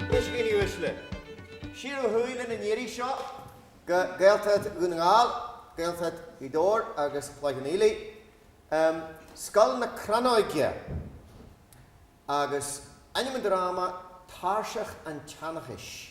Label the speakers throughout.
Speaker 1: A dhaoine uaisle. Siar ó thuaidh linn an iarraidh seo go Gaeltacht Dhún na nGall, Gaeltacht Ghaoth Dobhair agus Chloich Cheann Fhaola, Scoil na Crannóige agus ainm an dráma, Tairseach an tSeanchais.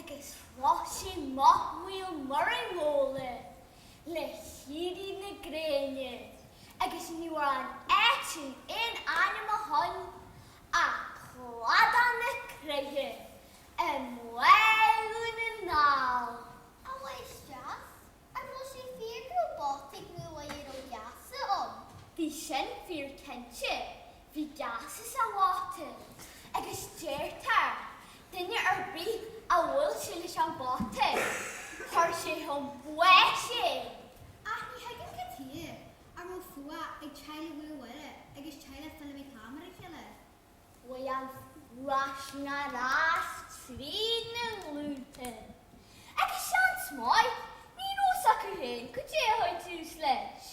Speaker 1: agus chroch sé mac Mhaolmhuire Mhóir le héirí na gréine agus ní raibh ar an áit sin aon ainm ó shoin ach Cladach na Croiche i mBaile Dhún na nGall. a mháistreás, an bhfuil sé fíor go raibh bata Mhaolmhuire faoi gheasa? Bhí sin fíor cinnte, bhí geasa sa bhata, agus deirtear, duine ar bith a bhuail sé leis an bhata, chuir sé chun báis é! Ach ní thuigim cad chuige a raibh fuath ag teaghlach Mhaolmhuire agus teaghlach Fheilimí Cam ar a chéile. Mhair an faltanas fríd na glúnta, agus seans maith, ní raibh a fhios acu féin cad é a chuir tús leis,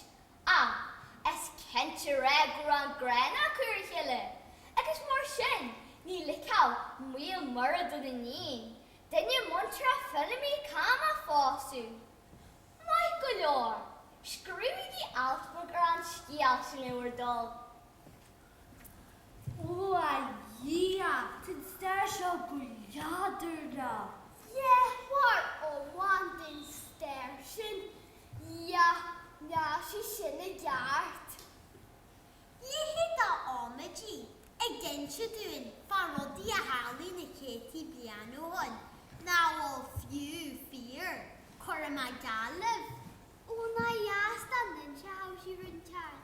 Speaker 1: ach is cinnte go raibh an ghráin acu ar a chéile, agus mar sin, ní ligfeadh Maolmhuire don iníon, duine muinteartha Feilimí Cam a phósadh. Maith go leor, scríobhaigí alt beag ar an scéal sin le bhur dtoil. Ó a Dhia, tá an stair seo go leadránach. Léitheoir iomlán den stair sin, dhia, níl sé sin i gceart. A leithéid d'amaidí, ag inse dúinn fá rudaí a tharlaigh na céadtaí bliain ó shoin, nach bhfuil fiú fíor, cuirfidh mé geall libh. Ó nár dheas dá n-inseochadh sí rud inteacht.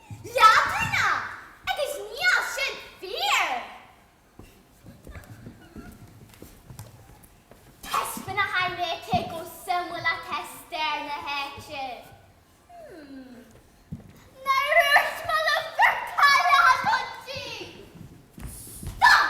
Speaker 1: leadránach, agus níl sin fíor. Taispeánfaidh mé daoibh chomh suimiúil atá stair na háite. Mmm. Ná raibh smola bhur cailleach agat di! Stop!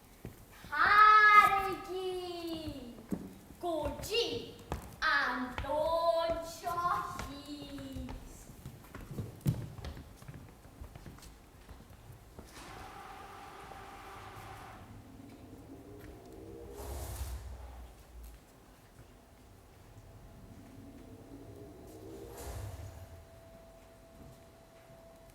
Speaker 1: Taraigí go dtí an domhan seo thíos.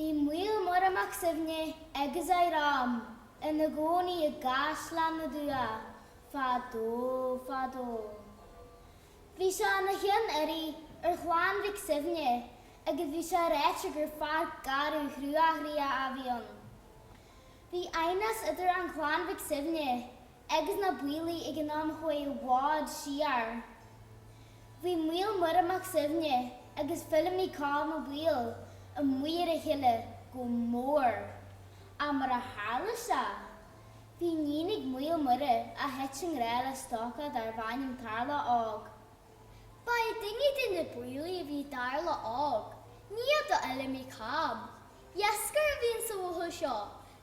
Speaker 1: Bhí Maol Muire Mac Suibhne agus a dhream ina gcónaí i gCaisleán na dTuath fadó fadó. Bhí sé ina cheann urraí ar Chlann Mhic Suibhne agus bhí sé ráite gur fear garbh cruachroíoch a bhí ann. Bhí aighneas idir an Chlann Mhic Suibhne agus na Baoilligh ag an am a chuaigh i bhfad siar. Bhí Maol Muire Mac Suibhne agus Feilimí Cam Ó Baoill amuigh ar a chéile go mór, ach mar a tharla sé. Bhí níon ag Maol Muire a thuit i ngrádh le stócach dár bh'ainm Tarlach Óg. Ba é duine de na Baoilligh a bhí i dTarlach Óg, nia do Fheilimí Cam. Iascaire a bhí ins an bhuachaill seo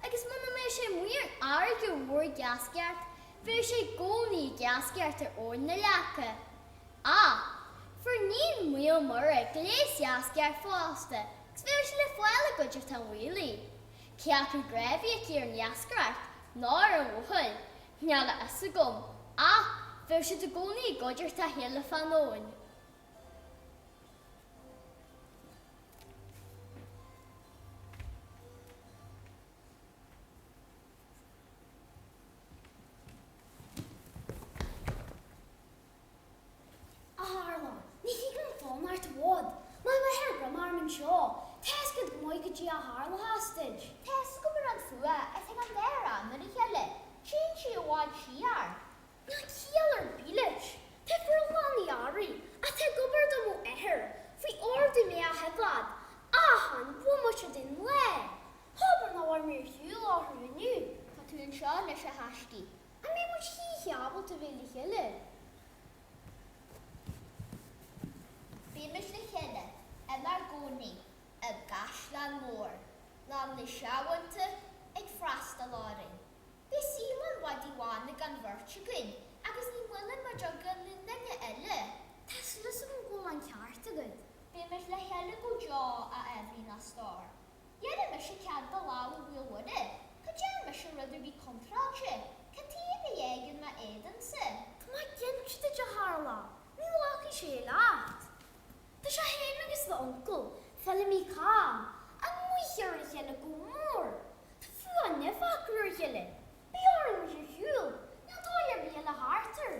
Speaker 1: agus muna mbeadh sé amuigh ar an fhairrge mhór ag iascaireacht bhéadh sé i gcónaí ag iascaireacht ar Abhainn na Leaca. Ach fuair níon Maol Muire gléas iascaireachta fosta agus bhéadh sí le fáil i gcuideachta an Bhaoilligh. Cé acu grá a bhí aici ar an iascaireacht ná ar an bhuachaill, níl a fhios agam, ach bheadh siad i gcónaí i gcuideachta a chéile, fán abhainn. A Tharlaigh, ní thig liom fanacht i bhfad. Má bheirtear orm anseo, tá a fhios agat go maith cad é a tharlóchas duit. Tá a fhios agam, ach an fuath sin ag ár mbunadh ar a chéile, téann sí i bhfad siar. Níl ciall ar bith leis. Tá forlámh na earraí atá ag obair do m'athair faoi ordú mé a choimhéad achan bhomaite den lá. Hóbair nach bhfuair mé ar shiúl uathu inniu. Tá tú anseo anois a thaiscidh. An mbeidh muid choíche ábalta bheith le chéile? Bímis le chéile inár gcónaí i gcaisleán mór lán le searbhóntaí ag freastal orainn. Beidh saol an mhadaidh bháin ag an bheirt againn agus ní bhfuileann muid againn le duine eile. Tá súil agam go bhfuil an ceart agat. Bímis le chéile go deo, a Eibhlín, a stór. Dhéanadh mise cead do lámh a Mhaoil Mhuire, cha dtearn mise rud ar bith contráilte, Cad taobh a dhéag in m'éadansa. Tá mé ag geallúint duit, a Tharlaigh, ní ghlacfaidh sé leat. Tá sé féin agus m'uncail, Feilimí Cam, amuigh ar a chéile go mór. Tá fuath nimhe acu ar a chéile. Beidh orainn ar shiúl, níl dóigh ar bith eile thart air.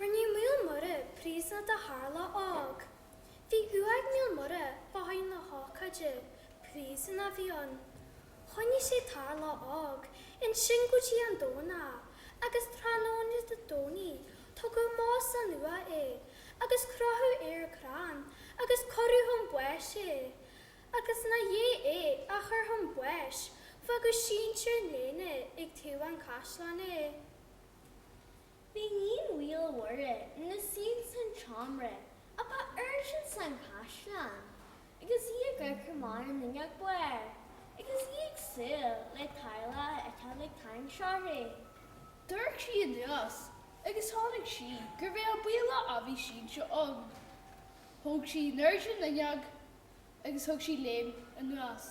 Speaker 1: Rinne Maol Mhuire príosúnach de Tharlach Óg. Bhí uaigh ag Maol Mhuire le haghaidh na hócáide, príosún a bhí ann. Choinnigh sé Tarlach Óg ansin go dtí an Domhnach agus tráthnóna Dé Domhnaigh tugadh amach as an uaigh é agus crochadh ar crann agus cuireadh chun báis é agus i ndiaidh é a chur chun báis fágadh sínte ar an léana ag taobh an chaisleáin é. Bhí níon Mhaoil Mhuire ina suí ins an tseomra ab airde ins an gcaisleán agus í ag amharc amach ar an fhuinneog ab fhearr agus í ag súil le Tarlach a fheiceáil ag tarraingt ionsuirthi. D'amharc sí anuas agus chonaic sí gurbh é an Baoilleach a bhí sínte ann. Thóg sí in airde an fhuinneog agus thug sí léim anuas.